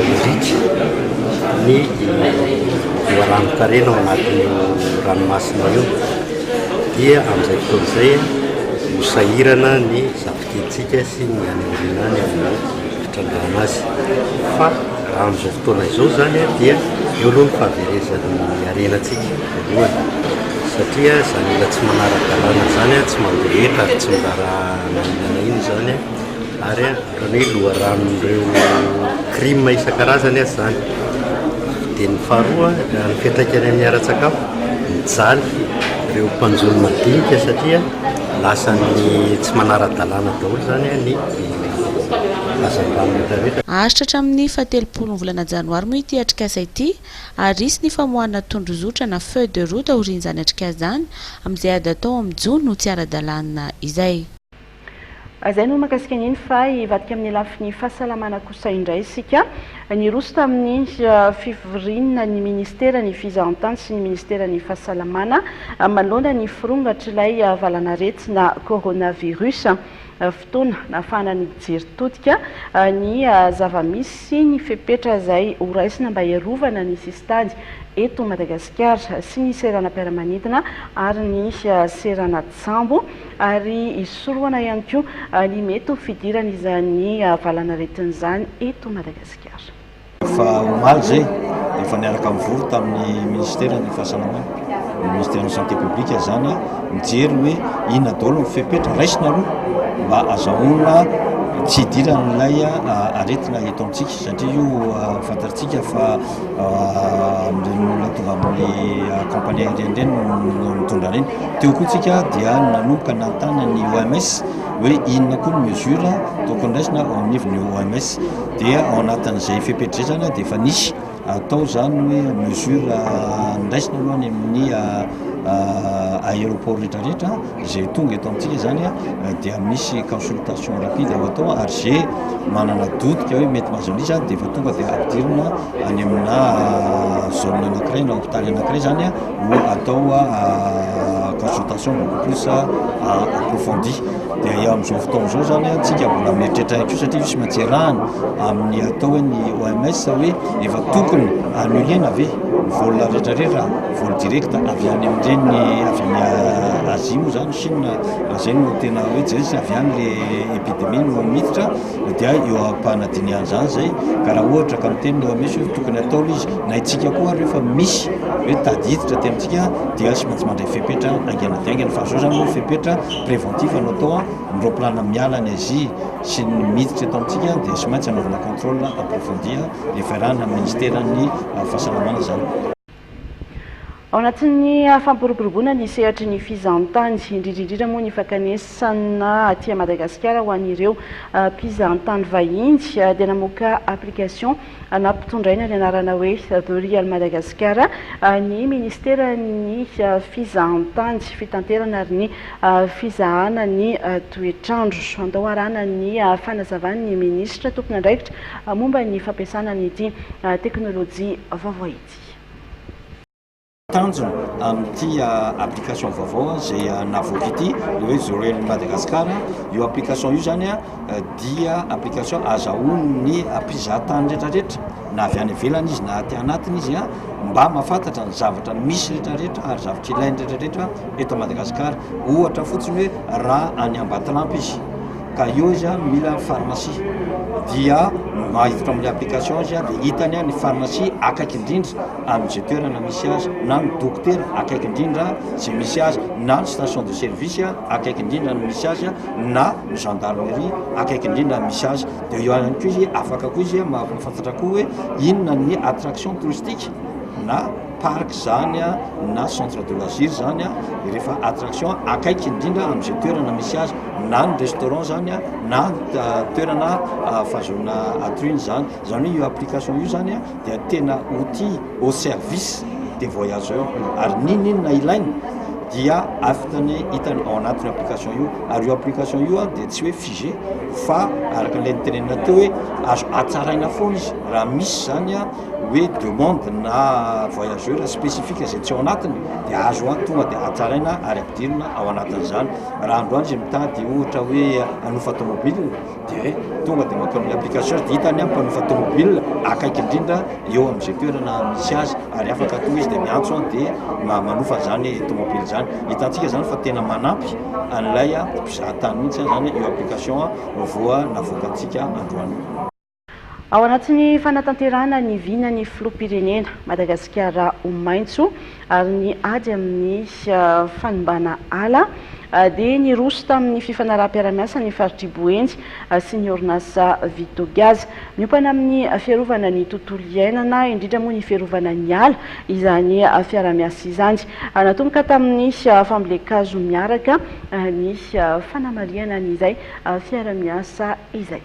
miritsy ny loharanonkarena ao anatin'io ranomasina io dia amin'izay fotoana izay ho sahirana ny zafika. Hetsika sy ny any aoriana any amin'ny fitrandrahana azy. Fa raha amin'izao fotoana izao izany dia eo aloha ny fahaverezan'ny harena antsika voalohany, satria izany olona tsy manara-dalàna izany tsy mandeha eto ary tsy miraharaha na inona na inona izany ary ohatran'ny hoe loharanon'ireo crime isan-karazany aza izany. Dia ny faharoa, ny fiantraikany amin'ny ara-tsakafo, mijaly ireo mpanjono madinika satria. Lasa ny tsy manara-dalàna daholo izany ny hazandrano rehetra rehetra. Haharitra hatramin'ny fahatelopolon'ny volana janoary moa ity atrikasa ity ary hisy ny famoahana tondrozotra na feuille de route aorian'izany atrikasa izany amin'izay ady atao amin'ny jono ho tsy ara-dalàna izay. Izay no mahakasika an'iny fa hivadika amin'ny lafiny fahasalamana kosa indray isika. Niroso tamin'ny fivoriana ny ministeran'ny Fizahantany sy ny ministeran'ny Fahasalamana manoloana ny firongatr'ilay valanaretina coronavirus. Fotoana nahafahana nijery todika ny zava-misy sy ny fepetra izay horaisina mba hiarovana ny sisintany eto Madagasikara sy ny seranam-piaramanidina ary ny seranan-tsambo. ary hisorohana ihany koa ny mety ho fidiran'izany valanaretina izany eto Madagasikara. Fa omaly izay, efa niaraka nivory tamin'ny minisiteran'ny Fahasalamana, ny minisiteran'ny Santé publique izany, mijery hoe inona daholo ny fepetra raisina aloha mba hazahoana tsy hidiran'ilay aretina eto amintsika, satria io fantatsika fa Amin'ireny olona tonga amin'ny compagnie aérienne ireny no nitondra an'iny. Teo koa isika dia nanomboka nanontany ny OMS hoe inona koa ny mesure tokony raisina ao anivon'ny OMS. Dia ao anatin'izay fepetrizana dia efa nisy atao izany hoe mesure niraisina aloha any amin'ny aéroport rehetra rehetra. Izay tonga eto amintsika izany dia misy consultation rapide ho atao ary ze manana doute ka hoe mety mahazo an'io izany dia efa tonga dia ampidirina any amina zone anankiray na hôpital anankiray izany ho atao consultation beaucoup plus approfondie. Dia eo amin'izao fotoana izao izany antsika mbola mieritreritra ihany koa satria io tsy maintsy arahana amin'ny atao hoe ny OMS hoe efa tokony annuler-na ve ny vol rehetra rehetra. Vol direct avy any amin'ireny avy any Azia moa izany, Chine, raha izay no tena hoe jerentsika, avy any ilay epidemie no miditra dia eo am-panadinihana izany izay ka raha ohatra ka miteny ny OMS hoe tokony hatao aloha izy na isika koa ary rehefa misy hoe tady hiditra aty amintsika dia tsy maintsy mandray fepetra haingana dia haingana fa izao izany moa fepetra préventif no atao an, ny raoplanina miala any Azia sy ny miditra eto amintsika dia tsy maintsy anaovana contrôle approfondi an, efa iarahana amin'ny ministeran'ny fahasalamana izany. Ao anatin'ny fampiroboroboana ny sehatry ny fizahantany, indrindra indrindra moa ny fakanesana aty Madagasikara ho an'ireo mpizahantany vahiny, dia namoaka application nampitondraina ny anarana hoe The Real Madagascar ny Ministeran'ny Fizahantany, Fitanterana ary ny Fizahana ny Toetr'andro. Andao harahana ny fanazavan'ny Minisitra tompon'andraikitra momba ny fampiasana an'ity teknolojia vaovao ity. ity. Tanjona amin'ity application vaovao izay navoaka ity ilay hoe Zorelon'i Madagasikara. Io application io izany dia application azahoan'ny mpizahatany rehetrarehetra na avy any ivelany izy na aty anatiny izy mba mahafantatra ny zavatra misy rehetrarehetra ary zavatra ilainy rehetrarehetra eto Madagasikara. Ohatra fotsiny hoe raha any Ambatolampy izy. ka eo izy a mila pharmacie dia maiditra amin'ny application izy a dia hitany a ny pharmacie akaiky indrindra am'ze toerana misy azy na ny dokotera akaiky indrindra ze misy azy na ny station de service a akaiky indrindra ny misy azy a na ny gendarmerie akaiky indrindra ny misy azy dia eo ihany koa izy afaka koa izy a mahavafantatra koa hoe inona ny attraction touristique na parc zany a na centre de loisir zany a de rehefa attraction akaiky indrindra am'izay toerana misy azy na ny restaurant zany a na toerana fahazoana atrine zany zany hoe io application io zany a dia tena outil au service des voyageurs ary ninoninona ilaina dia afitany hitany ao anatin'io application io ary io application io a dia tsy hoe figé fa araka ilay nitenenina teo hoe azo atsaraina foana izy raha misy zany a hoe demande na voyageur spécifique izay tsy ao anatiny dia azo an tonga dia hatsaraina ary ampidirina ao anatin'izany raha andro andro izay mitady ohatra hoe hanofa tomobile dia tonga dia mankao amin'ny application dia hitany amin'ny mpanofa tomobile akaiky indrindra eo amin'izay toerana misy azy ary afaka tonga izy dia miantso an dia manofa izany tomobile izany hitantsika izany fa tena manampy an'ilay mpizahatany mihitsy izany io application voa navoakantsika androany Ao anatin'ny fanatanterahana ny vinan'ny Filoham-pirenena, Madagasikara ho maitso ary ny ady amin'ny fanimbàna ala, dia niroso tamin'ny fifanaraham-piarahamiasa ny faritr'i Boeny sy ny orinasa Vitogaz. Miompana amin'ny fiarovana ny tontolo iainana, indrindra moa ny fiarovana ny ala, izany fiarahamiasa izany. Natomboka tamin'ny fambolen-kazo miaraka ny fanamarihana an'izay fiarahamiasa izay.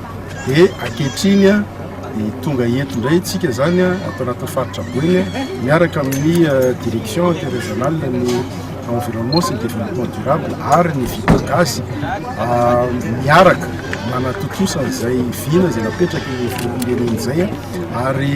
dia ankehitriny dia tonga eto indray tsika izany ato anatin'ny faritra Boeny miaraka amin'ny euh, direction interrégionale ny environnement sy ny développement durable ary ny vita gasy euh, miaraka manatontosana izay vina izay napetraky ny firenena izay ary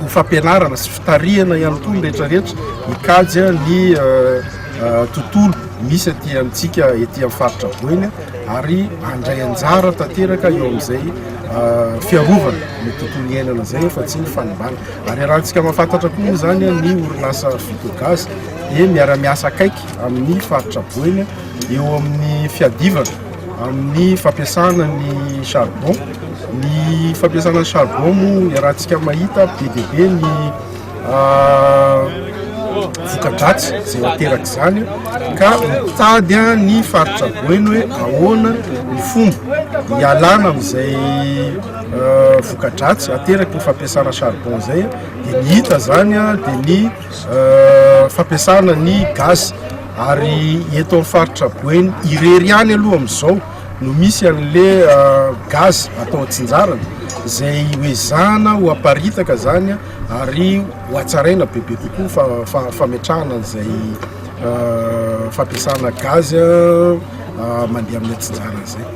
ho fampianarana sy fitarihana ihany koa ny rehetra rehetra mikajy ny tontolo misy aty amintsika ety amin'ny faritra Boeny ary andray anjara tanteraka eo amin'izay fiarovana ny tontolo iainana izay fa tsy ny fanimbana ary arahantsika mahafantatra koa moa izany ny orinasa Ficogas dia miara-miasa akaiky amin'ny faritra Boeny eo amin'ny fiadivana amin'ny fampiasana ny charbon. Ny fampiasana ny charbon moa iarahantsika mahita be dia be ny voka-dratsy izay ateraka izany ka mitady ny faritra boeno hoe ahoana ny fomba hialana amin'izay voka-dratsy ateraky ny fampiasana charbon izay dia ny hita izany dia ny fampiasana ny gaz Ary eto amin'ny faritra Boeny irery ihany aloha amin'izao no misy an'le gaz atao atsinjarany izay hoezahana ho aparitaka izany ary ho atsaraina bebe kokoa fa fa fametrahana an'izay fampiasana gaz mandeha amin'ny atsinjarany izay.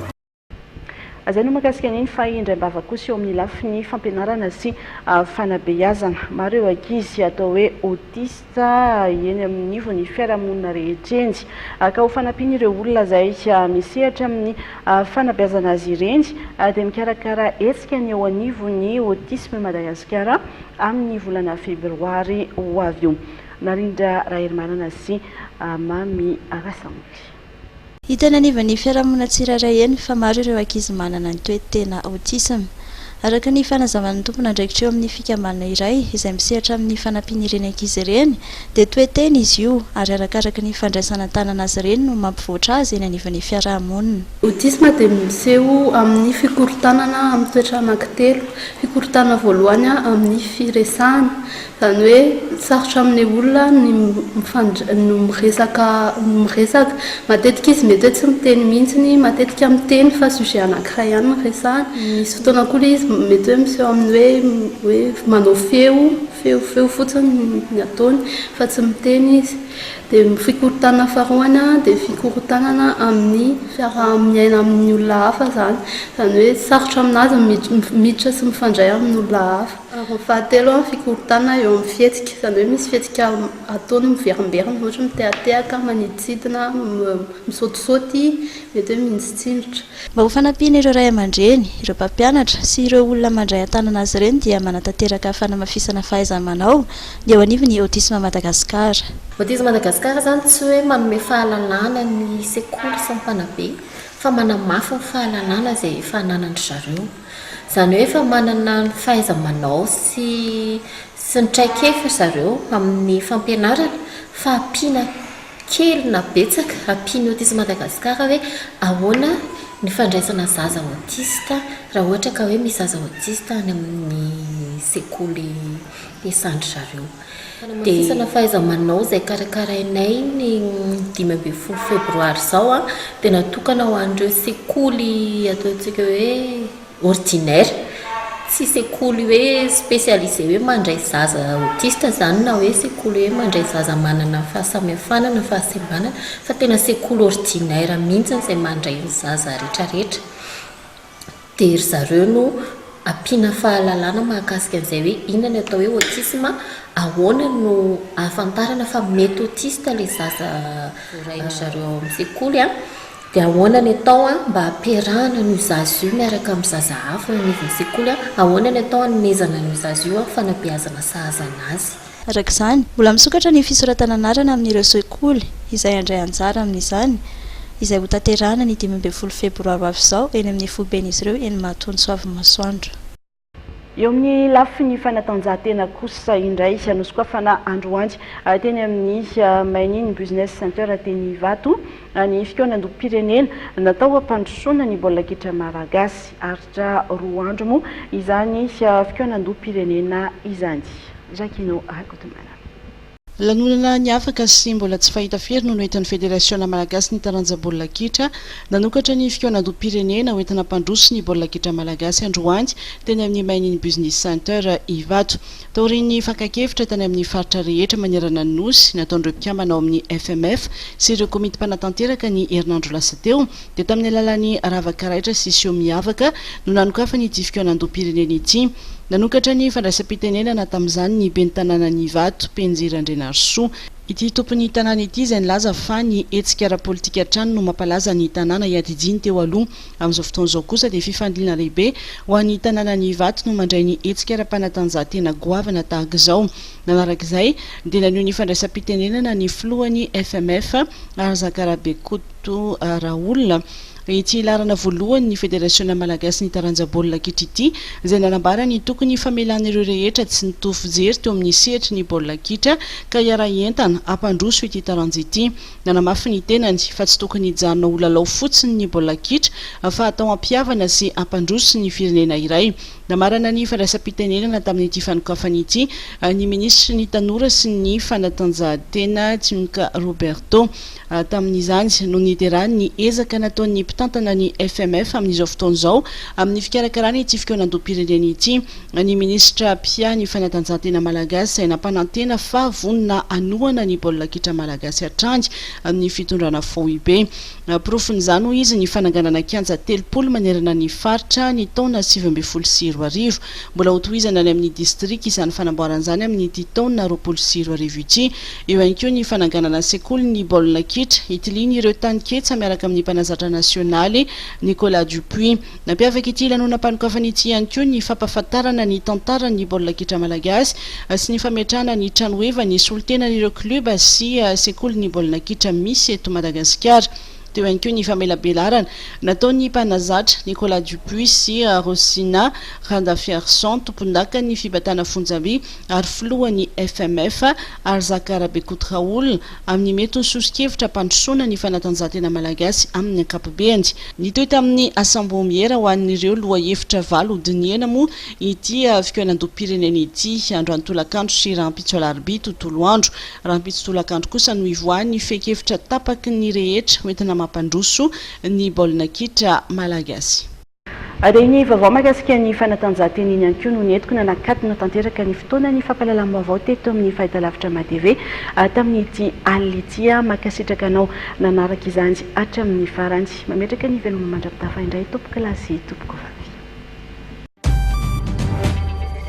Izay no mahakasika an'iny fa indraim-bava kosa eo amin'ny lafiny fampianarana sy fanabeazana. Maro ireo ankizy atao hoe autiste eny anivon'ny fiarahamonina rehetra eny. Ka ho fanampian'ireo olona izay misehatra amin'ny fanabeazana azy ireny dia mikarakara hetsika ny eo anivon'ny Autisme Madagasikara amin'ny volana febroary ho avy io. Narindra Raherimanana sy Mamy Rasamory. Hita eny anivon'ny fiarahamonina tsirairay eny fa maro ireo ankizy manana ny toe-tena autisme. Araka ny fanazavan'ny tompon'andraikitra eo amin'ny fikambanana iray izay misehatra amin'ny fanampian'ireny ankizy ireny dia toe-tena izy io ary arakaraka ny fandraisana an-tanana azy ireny no mampivoatra azy eny anivon'ny fiarahamonina. Autisme dia miseho amin'ny fikorontanana amin'ny toetra anankitelo, fikorontanana voalohany amin'ny firesahana, Izany hoe sarotra amin'ny olona ny mifandray, no miresaka, no miresaka. Matetika izy mety hoe tsy miteny mihitsy, matetika miteny fa sujet anankiray ihany no resahany. Misy fotoana koa ilay izy mety hoe miseho amin'ny hoe manao feo, feo, feo fotsiny ny ataony fa tsy miteny izy. Dia ny fikorontanana faharoany dia fikorontanana amin'ny fiaraha-miaina amin'ny olona hafa izany. Izany hoe sarotra aminazy ny miditra sy mifandray amin'olona hafa. Ary fahatelo, ny fikorontanana eo amin'ny fihetsika, izany hoe misy fihetsika ataony miverimberina, ohatra hoe mitehatehaka, manidintsidina, misaotisaoty, mety hoe minjitsinjotra. Mba ho fanampiana ireo ray aman-dreny, ireo mpampianatra sy ireo olona mandray an-tanana azy ireny dia manatanteraka fanamafisana fahaiza-manao ny eo anivon'ny Autisme Madagascar. Autisme Madagascar izany tsy hoe manome fahalalana ny sekoly sy ny mpanabe fa manamafy ny fahalalana izay efa ananandry zareo. Izany hoe efa manana ny fahaiza-manao sy sy ny traikefa ry zareo amin'ny fampianarana fa ampiana kely na betsaka, ampian'ny Autisme Madagascar hoe ahoana ny fandraisana zaza autiste raha ohatra ka hoe misy zaza autiste any amin'ny sekoly hiasan-dry zareo. Hanamafisana fahaiza-manao izay karakarainay ny dimy ambin'ny folo febroary izao dia natokana ho an'ireo sekoly ataontsika hoe ordinaire, tsy sekoly hoe spécialisé hoe mandray zaza autiste izany na hoe sekoly hoe mandray zaza manana fahasamihafana na fahasembanana fa tena sekoly ordinaire mihitsy izay mandray ny zaza rehetrarehetra. dia ry zareo no ampiana fahalalana mahakasika an'izay hoe inona ny atao hoe autisme, ahoana no ahafantarana fa mety autiste ilay zaza voarain'ny zareo ao amin'ny sekoly, dia ahoana ny atao mba hampiarahana an'io zaza io miaraka amin'ny zaza hafa eo anivon'ny sekoly, ahoana ny atao hanomezana an'io zaza io fanabeazana sahaza an'azy. Araka izany, mbola misokatra ny fisoratana anarana amin'ireo sekoly izay handray anjara amin'izany, izay hotanterahana ny dimy ambin'ny folo febroary ho avy izao eny amin'ny foiben'izy ireo eny Mahatoa Antsoavimasoandro. Eo amin'ny lafiny fanatanjahantena kosa indray, nosokafana androany teny amin'ny Mainini Business Center teny Ivato ny fikaonandoham-pirenena natao hampandrosoana ny baolina kitra malagasy. Aritra roa andro moa izany fikaonandoham-pirenena izany. Jacquino Rakotomanana. Lanonana niavaka sy mbola tsy fahita firy no noentin'ny Federasiona Malagasy ny taranja baolina kitra. Nanokatra ny fikaonandoham-pirenena hoentina hampandroso ny baolina kitra malagasy androany teny amin'ny Mainini Business Center Ivato. Taorian'ny fakan-kevitra tany amin'ny faritra rehetra manerana ny Nosy nataon'ireo mpikambana ao amin'ny FMF sy ireo komity mpanatanteraka ny herinandro lasa teo, dia tamin'ny alalan'ny rava-karaitra sy seho miavaka no nanokafany ity fikaonandoham-pirenena ity. Nanokatra ny fandraisam-pitenenana tamin'izany ny ben'ny tanànan'i Ivato, Penjy Randrianarisoa. Ity tompon'ny tanàna ity izay nilaza fa ny hetsika ara-politika hatrany no mampalaza ny tanàna iadidiany teo aloha. Amin'izao fotoana izao kosa dia fifandonana lehibe ho an'ny tanànan'i Ivato no mandray ny hetsika ara-panatanjahantena goavana tahaka izao. Nanaraka izay dia naneho ny fandraisam-pitenenana ny filohan'ny FMF, Arzakarabe Koto. Toa Raoul, ity laharana voalohany ny Federasiona Malagasy ny taranja baolina kitra ity, izay nanambara ny tokony famelana ireo rehetra tsy nitovy fijery teo amin'ny sehatry ny baolina kitra ka hiara-hientana hampandroso ity taranja ity. Nanamafy ny tenany fa tsy tokony hijanona ho lalao fotsiny ny baolina kitra fa atao hampihavana sy hampandroso ny firenena iray. Namarana ny fandraisam-pitenenana tamin'ity fanokafana ity ny minisitry ny Tanora sy ny fanatanjahantena, Timka Roberto. Tamin'izany no niderany ny ezaka nataon'ny mpitantana ny FMF amin'izao fotoana izao amin'ny fikarakarana ity fikaonandoham-pirenena ity, ny minisitra mpia ny fanatanjahantena malagasy izay nampanantena fa vonona hanohana ny baolina kitra malagasy hatrany amin'ny fitondrana foibe. Porofon'izany hoy izy ny fananganana kianja telopolo manerana ny faritra ny taona sivy ambin'ny folo sy roa arivo. Mbola hotohizana any amin'ny distrika izany fanamboarana izany amin'ity taona roapolo sy roa arivo ity. Eo ihany koa ny fananganana sekolin'ny baolina kitra itilian'ireo tany ketsa miaraka amin'ny mpanazatra nasionaly, Nicolas Dupuis. Nampiavaka ity lanonam-panokafana ity ihany koa ny fampahafantarana ny tantaran'ny baolina kitra malagasy sy ny fametrahana ny tranoheva nisolo tena an'ireo klioba sy sekolin'ny baolina kitra misy eto Madagasikara. Teo ihany koa ny famelabelarana nataon'ny mpanazatra, Nicolas Dupuis sy Rosina Randafiarison, tompondakan'ny fibatana fonjamby, ary filohan'ny FMF, Arzaka Rabekoutraoul, amin'ny mety ho soso-kevitra hampandrosoana ny fanatanjahantena malagasy amin'ny ankapobeny. Nitohy tamin'ny asambomhiera ho an'ireo lohahevitra valo hodinihana moa ity fikaonandoham-pirenena ity, andro an-tolakandro sy rahampitso alarobia tontolo andro. Rahampitso tolakandro kosa no hivoahan'ny fehin-kevitra tapaky ny rehetra hoentina mampandroso ny baolina kitra malagasy. Dia ny vaovao mahakasika ny fanatanjahantena iny ihany koa no nentiko nanakatona tanteraka ny fotoana ny fampahalalam-baovao teto amin'ny Fahitalavitra Mahatv tamin'ity alina ity. Mankasitraka anao nanaraka izany hatramin'ny farany. Mametraka ny veloma mandra-pitafa indray tompokolahy sy tompokovavy.